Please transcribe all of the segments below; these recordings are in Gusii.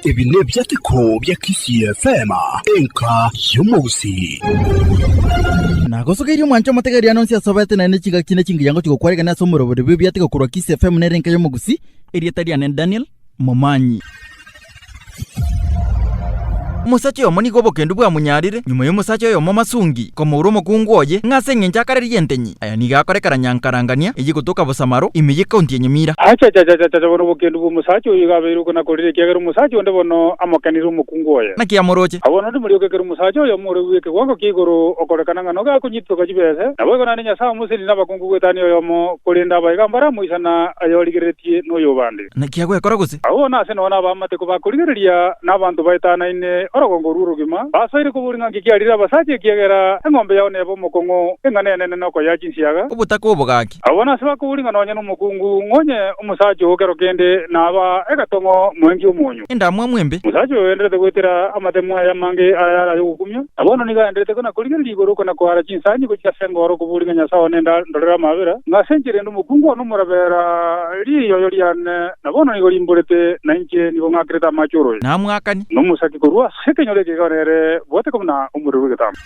Ebi nebiateko bia Kisii FM, enka y'omousi. Nagosogeirie omwancho omotegeriane onsi asobete naende chigaki na chingiya ngochia gokwaregania ase omorobori bw'ebiateko korwa Kisii FM nere enka y'omogusi. Erieta riane Daniel. momanyi. Omosacha oyomo nigo obokendu bwamonyaarire, nyuma y'omosacha oyomo omasungi, komoura omokungu oye, ng'a ase engencho akarerie entenyi. Aya nigo akorekera nyankarangania eye gotoka Bosamaro, ime y'ecounty ya Nyamira. Achachachachacha, bono obokendu bw'omosacha oyio igo abeirwe konakorire, ekiagera omosacha onde bono amokenire omokungu oye. Naki amoroche? Abwo naende morioke ekero omosacha oyomo ore bw'ekegongo kia igoro okorekana ng'a noga akonyititoka chibese, nabo igo naende Nyasae omosendi nabakungu gw'etani oyomo, korende abaye iga mbaramoisana ayorigereretie noyobande. Naki agwekora gose? Agwo nase nonya ab'amateko ba korigereria na abanto baetanaine orogongo rw'orogima, basoire koboria ng'a nki kiarire abasacha ekiagera eng'ombe yao neba omokongo, eng'ana enene nokoyea chinsiaga. Obotaka obogaki. Agwo nase bakoboria ng'a nonya nomokungu ng'o onye omosacha oo kero kende naba egetong'o moenki omonyu. endamwamu embe. Omosacha oyo oenderete goetera amatemo aya amange ayare ay'ogokumia, na bono nigo aenderete kona-korigereria igoro kona-koara chinsangi gochia ase engooro koboria ng'a Nyasae one enda ndorere amaabera, ng'a ase enchera ende omokungu one omorabeera riiyoyo riane, na bono nigo rimborete, na inche nigo ng'akerete amache oroya, Namwakani. na omosaki korwa ase ekenyoro ekegaore ere bwateka buna omorero bw'egetambo.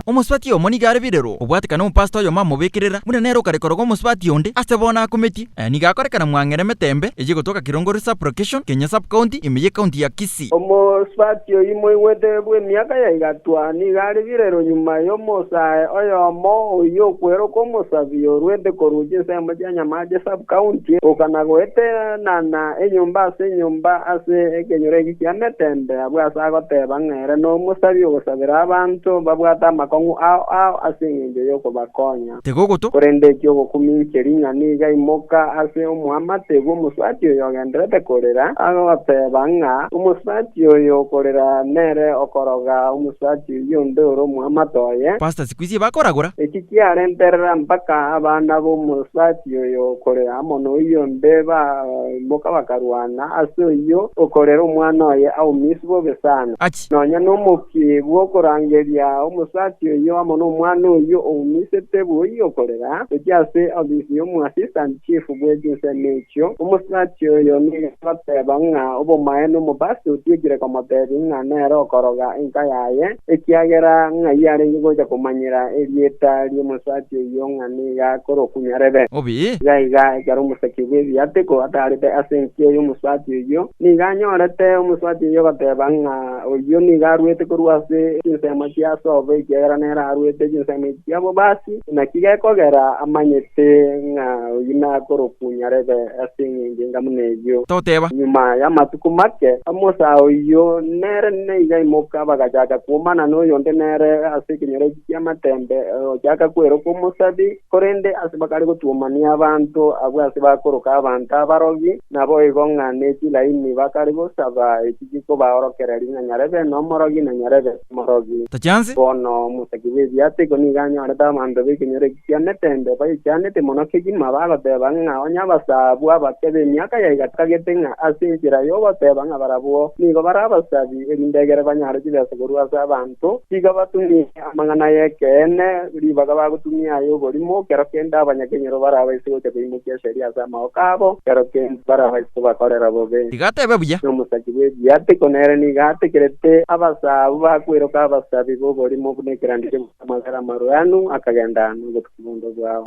Omosubati oyomo nigo are birero, obwate kana omopastor oyomo amobekerera, buna nere okarekoroga omosubati onde, ase bono akometie. Aya nigo akorekana mwang'era emetembe eye egotoka Kilongori Sub-location, Kenya Sub-county, ime y'ecounty ya Kisii. Omosubati oyio moigwete bw'emiaka ya igatwa nigo are birero nyuma y'omosae oyomo oyio okweroka omosabi orwete korwa chinsemo chia Nyamache Sub-county, gokana goetenana enyomba ase enyomba ase ekenyoro eke ki'emetembe. Abwo ase agoteba ng'a ere nomosabi ogosabera abanto babwate amakong'u ao ao ase engencho y'okobakonya. Tigogoto. Korende eki ogokuminche ring'ana iga imoka ase omoamate bw'omosubati oyo ogenderete korera, agoteba ng'a omosubati oyo okorera nere okoroga omosubati oyio onde ore omoamate oye. Pastor siku ici bakoragora. Eki kiarenterera mpaka abana b'omosubati. Yoyio okorera amo noyio onde baimoka bakarwana, ase oyio okorera omwana oye aumiswe bobe sana. Aki. Nonya nomokie bw'okorangeria omosacha oyio amo nomwana oyio oumisete boyio okorera, gochia ase ofisi y'omoassistant chief bwe chinsemo echio, omosacha oyo nigo agoteba ng'a obomaene omobasi otiekire komotebia ng'a nere okoroga enka yaye, ekiagera ng'ai arenge gocha komanyera erieta ri'omosacha oyio ng'a. nigo akorokunyarere. Obi. Iga iga, ekero omosaki bw'ebiateko atarete ase enchie y'omosubati oyio, nigo anyorete omosubati oyio ogoteba ng'a oyio nigo aruete korwa ase chinsemo chia sobo, ekiagera nere aruete chinsemo echi chia bobasi, naki gekogera amanyete ng'a oyio nakorokunyarere ase eng'encho enga buna eyio. Togoteba. Nyuma y'amatuko make, omosaa oyio nere nigo aimoka, bagachaka kwomana noyonde nere ase ekenyoro ekio. y'amatembe ogochaka kwerokwa omosabi, korende ase bakare gotuomania abanto abwo ase bakoroka abanto abarogi, naboigo ng'a ne chilaini bakare gosaba echi chikobaorokera ring'a nyarebe nomorogi na nyarebe nomorogi. Tachiansi. Bono omosaki bw'ebiato iko nigo anyorete abanto b'ekenyoro eki ki'amatembe bayechianete mono kegima, bagoteba ng'a onye abasaa abwo abake b'emiaka yaiga tibagete ng'a ase enchera y'ogoteba ng'a barabwo nigo bare abasabi, erinde egere banyare chibesa korwa ase abanto, tiga batumie amang'ana ay'ekeene ribaga bagotumia ay'oborimo, kero kende abanyakenyoro barabaise gocha koimokia esegi ase amaoka abo, kero kende barabaise kobakorera bobe. Tiga tebe buya. Nomosasi bw'ebiya tiko nere nigo ategerete abasaa abwo bakweroka abasabi b'oborimo buna ekeranderio bw'amagare amarwenu, akagenda nobotuki bw'onde bwao.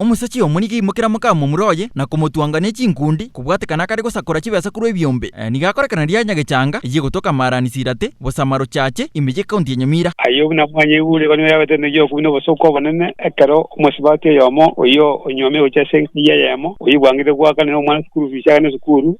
Omosacha omo nigo aimokera mokamomura oye na komotwanga ne chinkundi, kobwatekana akare gosakora chibesa korwa ebiombe. Nigo akorekana ria nyagechanga eyio egotoka Maarani-Silate, Bosamarochache, ime y'ekaunti ya Nyamira. Ayio buna mwanyaigure iga nigo yabete enegi y'okobina obosooku obonene, ekero omosibati oyomo oyio onyuomire gochia ase enka eyio eyemo, oyio bwang'ainete goakanera omwana esukuru fiisi agende sukuru,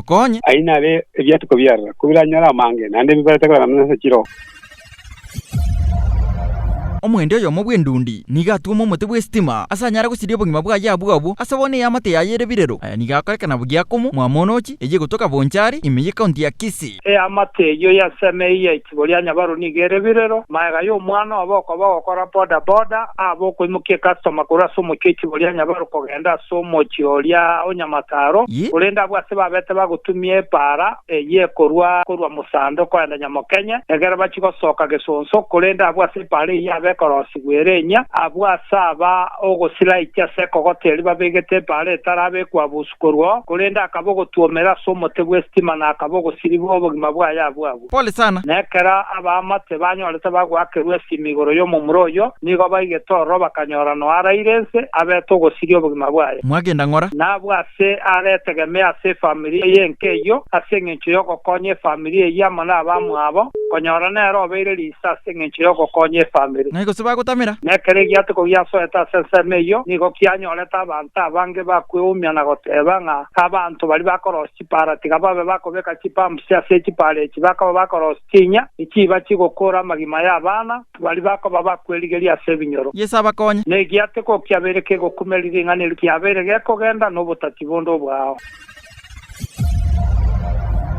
Onye. Ayio naro ebiatuko biarora, ko biranyore amange, naende bibarete korana buna ase chiroba. Omoendi oyomo bw'endundi nigo atuoma omote bw'esitima, ase anyare gosiria obogima bwaye abwo abwo, ase bono eamate yaye ere birero. Aya nigo akorekana bw'Giakomo, mwamoonochi, eyio egotoka Bonchari, ime y'Ekaunti ya Kisii. Eamate eyio y'Aseme eyia Igoro ya Nyabaru nigo ere birero. Magega y'omwana obo okoba ogokora boda boda abe okoimokia ecustoma korwa ase omochie igoro ya Nyabaru kogenda ase omochie oria o Nyamataro, Yi. korende abwo ase babete bagotumia epaara eyio ekorwa korwa Musando kogenda Nyamokenye, egere bachie gosoka Gesonso, korende abwo ase epaara eyio abe ekorosigwa ere enyia, abwo ase aba ogosira aiche ase ekogota erio babegete epaara etarabe ekwa Busu. korwao, korende akaba ogotwomera ase omote bw'esitima, na akaba ogosiribwa obogima bwaye abwo abwo. Pole sana. Na ekero abaamate banyorete bagoakerwa esimi igoro y'omomura oyio, nigo baigete ororo bakanyora noaraire ense, abete ogosiria obogima bwaye. Mwagenda ng'ora? Na abwo ase aretegemee ase efamiri eye enke eyio, ase engencho y'ogokonya efamiri eyio amo nabamwabo, konyora nere obeire ri. Ase engencho y'ogokonya efamiri. Naye gose bagotamera. Na ekero egiatiko giasoete ase ensemo eyio, nigo kianyorete abanto abange bakweumia na goteeba ng'a abanto baria bakorosia chipaara tiga babe bakobeka chipampusi ase echipaara echi, bakaba bakorosia chinya echiiba chigokoora amagima y'abana baria bakoba bakwerigeria ase ebinyoro. Yeso abakonye. Na egiatiko kiabeire kegokumeria ring'ana erio kiabeire gekogenda nobotati bonde obwao.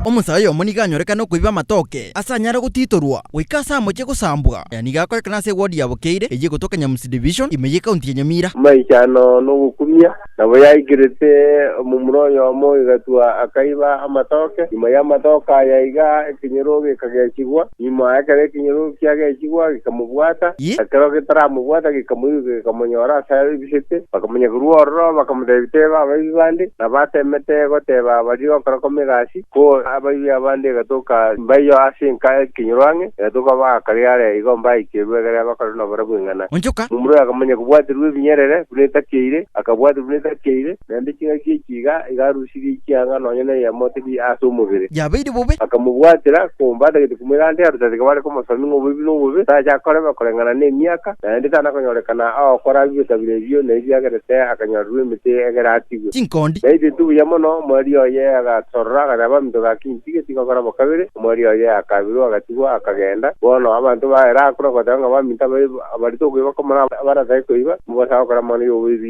Omonsa oyomo nigo anyorekane okoiba amatoke ase anyare gotitorwa goika ase amochie gosambwa. Aya nigo akorekana ase ewodi ya Bokeire eyio egotoka Nyamusi Division, ime y'ecounty ya Nyamira. Amaichano nogokumia. Nabo yaikerete omomura oyomo oigatwa akaiba amatoke. Nyuma y'amatoke aya iga ekenyoro gekagechigwa. Nyuma ekero ekenyoro kiagechigwa gekamobwata, Yee. ekero getaramobwata gekamoiruka gekamonyora ase arebisete, bakamanya korwa ororo, bakamotebia, Teba abaibi bande nabatemete goteba abaria gokorokoma egasi, ko abaibi abande egatoka mbaiyo ase enka ekenyoro ang'e, egatoka bagakaria are igo mbaikirwe egere bakore nobore bw'ing'ana. Onchoka. Momura akamanya kobwaterwa ebinyerere buna etakeire, akabwata buna etakeire, naende ching'aki echi iga iga arusia. tibichianga nonya neyemo tiri ase omobere. Yabeire bobe. Bakamobwatera, komba atagete komoira ande arute ase ekabare komosomia ng'a oboibi nobobe, tache akorema koreng'ana nemiaka, naende tanakonyorekana agokora abia etabire ebio, na ebiagerete akanyorerwa emete egere atigwe. Chinkondi. Na egentu buya mono, omwari oye agatorora, agateba, Abanto ga Kintige tigokora bo kabere. Omwari oye akaabirwa, agatigwa, akagenda. Bono abanto baye rakure goteba ng'a baminto ababe, abarete okoiba komorao, abaratae koiba, mobasae gokora amang'ana y'oboibi.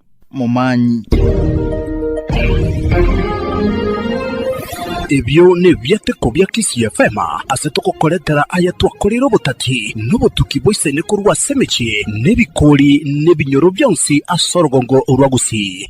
momanyi. Ebio nebiateko bia Kisii FM ase togokoretera aya twakoreire obotati na obotuki boisaine korwa ase emechie na ebikori na ebinyoro bionsi ase orogongo rwa Gusii.